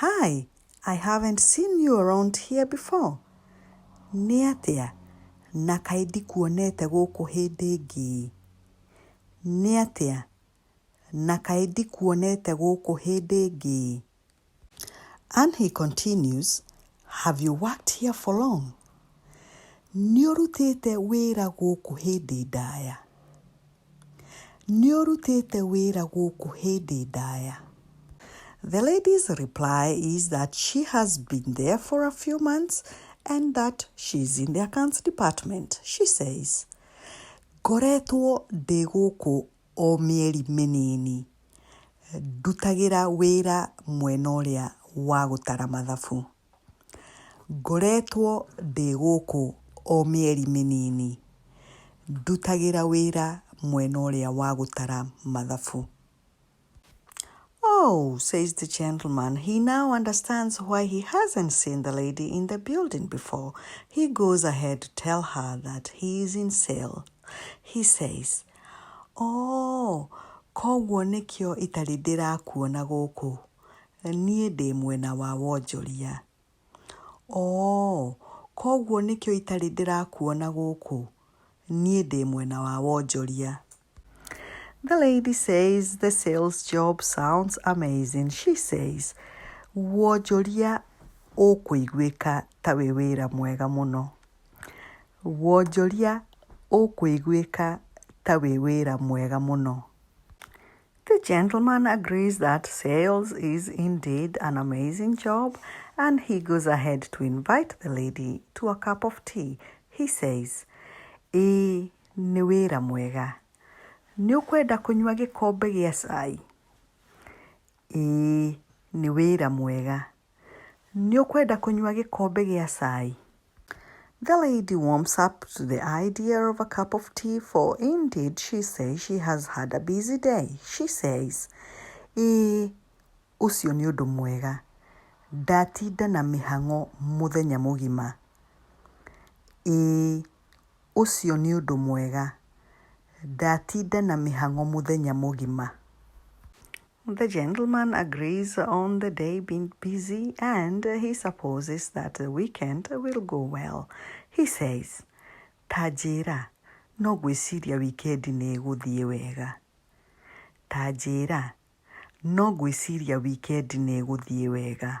Hi, I haven't seen you around here before. Nĩ atĩa? Na kaĩ ndikuonete gũkũ hĩndĩ ĩngĩ. Nĩ atĩa? Na kaĩ ndikuonete gũkũ hĩndĩ ĩngĩ. And he continues, Have you worked here for long? Nĩ ũrutĩte wĩra gũkũ hĩndĩ ndaya. Nĩ ũrutĩte wĩra gũkũ hĩndĩ ndaya? The lady's reply is that she has been there for a few months and that she is in the accounts department. She says, Ngoretwo ndĩ gũkũ o mĩeri mĩnini ndutagĩra wĩra mwena ũrĩa wa gũtara mathabu. Ngoretwo ndĩ gũkũ o mĩeri mĩnini, ndutagĩra wĩra mwena ũrĩa wa gũtara mathabu. Oh! says the gentleman, he now understands why he hasn't seen the lady in the building before. He goes ahead to tell her that he is in sale. He says, Oh! koguo nĩkĩo itarĩ ndĩrakuona gũkũ. Niĩ ndĩ mwena wa wonjoria. Oo, koguo nĩkĩo itarĩ ndĩrakuona gũkũ? Niĩ ndĩ mwena wa wonjoria. The lady says the sales job sounds amazing. She says, Wonjoria ũkũiguĩka ta wĩ wĩra mwega mũno. Wonjoria ũkũiguĩka ta wĩ wĩra mwega mũno. The gentleman agrees that sales is indeed an amazing job and he goes ahead to invite the lady to a cup of tea. He says, Ĩĩ, nĩ wĩra mwega. Nĩ ũkwenda kũnyua gĩkombe gĩa cai? Ĩĩ, nĩ wĩra mwega. Nĩ ũkwenda kũnyua gĩkombe gĩa cai? The lady warms up to the idea of a cup of tea for indeed she says she has had a busy day. She says, Ĩĩ, ũcio nĩ ũndũ mwega. Ndatinda na mĩhang'o mũthenya mũgima. Ĩĩ, ũcio nĩ ũndũ mwega. Ndatinda na mĩhang'o mũthenya mũgima. The gentleman agrees on the day being busy and he supposes that the weekend will go well. He says, Ta njĩra, no ngwĩciria wikendi nĩ ĩgũthiĩ wega. Ta njĩra, no ngwĩciria wikendi nĩ ĩgũthiĩ wega.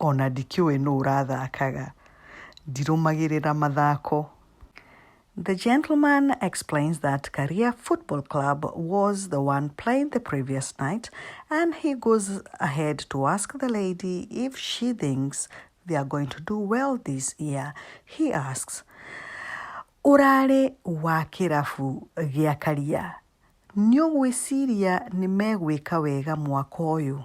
Ona ndikĩũĩ nũ ũrathakaga. Ndirũmagĩrĩra mathako. The gentleman explains that Karia Football Club was the one played the previous night and he goes ahead to ask the lady if she thinks they are going to do well this year. He asks, Ũrarĩ wa kĩrabu gĩa Karia, nĩ ũgwĩciria nĩ megwĩka wega mwaka ũyũ?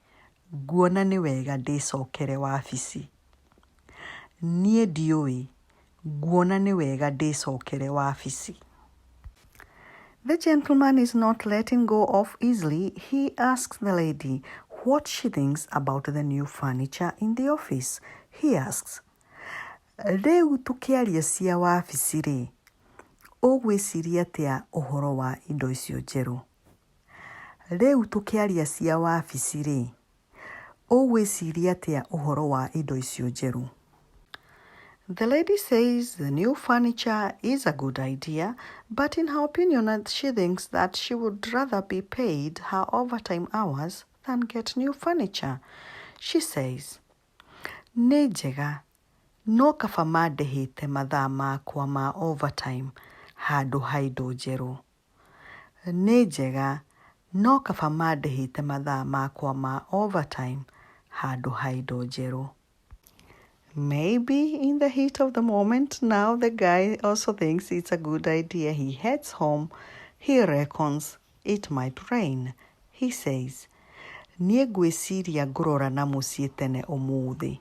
nguona nĩ wega ndĩcokere wabici. Niĩ ndiũĩ, nguona nĩ wega ndĩcokere wabici. The gentleman is not letting go of easily, he asks the lady what she thinks about the new furniture in the office. He asks, rĩu tũkĩaria cia wabici-rĩ, ũgwĩciria atĩa ũhoro wa indo icio njerũ? Rĩu tũkĩaria cia wabici rĩ, ũgwĩciria atĩa ũhoro wa indo icio njerũ? The lady says the new furniture is a good idea, but in her opinion she thinks that she would rather be paid her overtime hours than get new furniture. She says, nĩ njega, no kaba mandĩhĩte mathaa makwa ma overtime handũ ha indo njerũ. nĩ njega no kaba mandĩhĩte mathaa makwa ma overtime handũ ha indo njerũ. Maybe in the heat of the moment now the guy also thinks it's a good idea he heads home he reckons it might rain he says niĩ ngwĩciria ngũrora na mũciĩ tene ũmũthĩ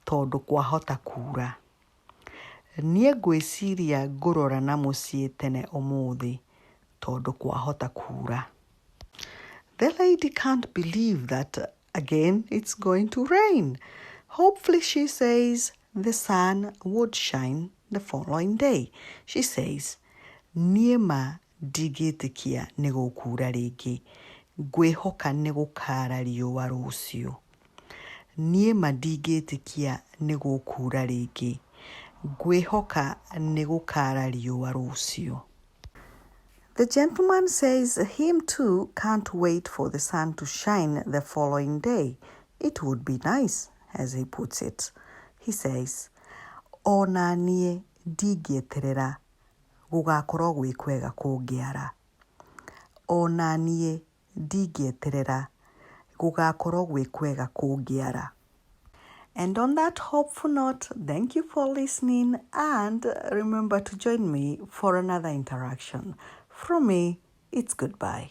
tondũ kwahota kura. Niĩ ngwĩciria ngũrora na mũciĩ tene ũmũthĩ tondũ kwahota kuura. The lady can't believe that again it's going to rain. Hopefully she says the sun would shine the following day. She says, niĩ ma Ndingĩtĩkia nĩ gũkuura rĩngĩ. Ngwĩhoka nĩ gũkaara riũa rũciũ. Niĩ ma ndingĩtĩkia nĩ gũkuura rĩngĩ. Ngwĩhoka nĩ gũkaara riũa rũciũ. The gentleman says him too can't wait for the sun to shine the following day. It would be nice, as he puts it. He says, O na niĩ ndingĩeterera gũgakorwo gwĩ kwega kũngĩara. Ona niĩ ndingĩeterera, gũgakorwo gwĩ kwega kũngĩara. And on that hopeful note, thank you for listening and remember to join me for another interaction. From me, it's goodbye.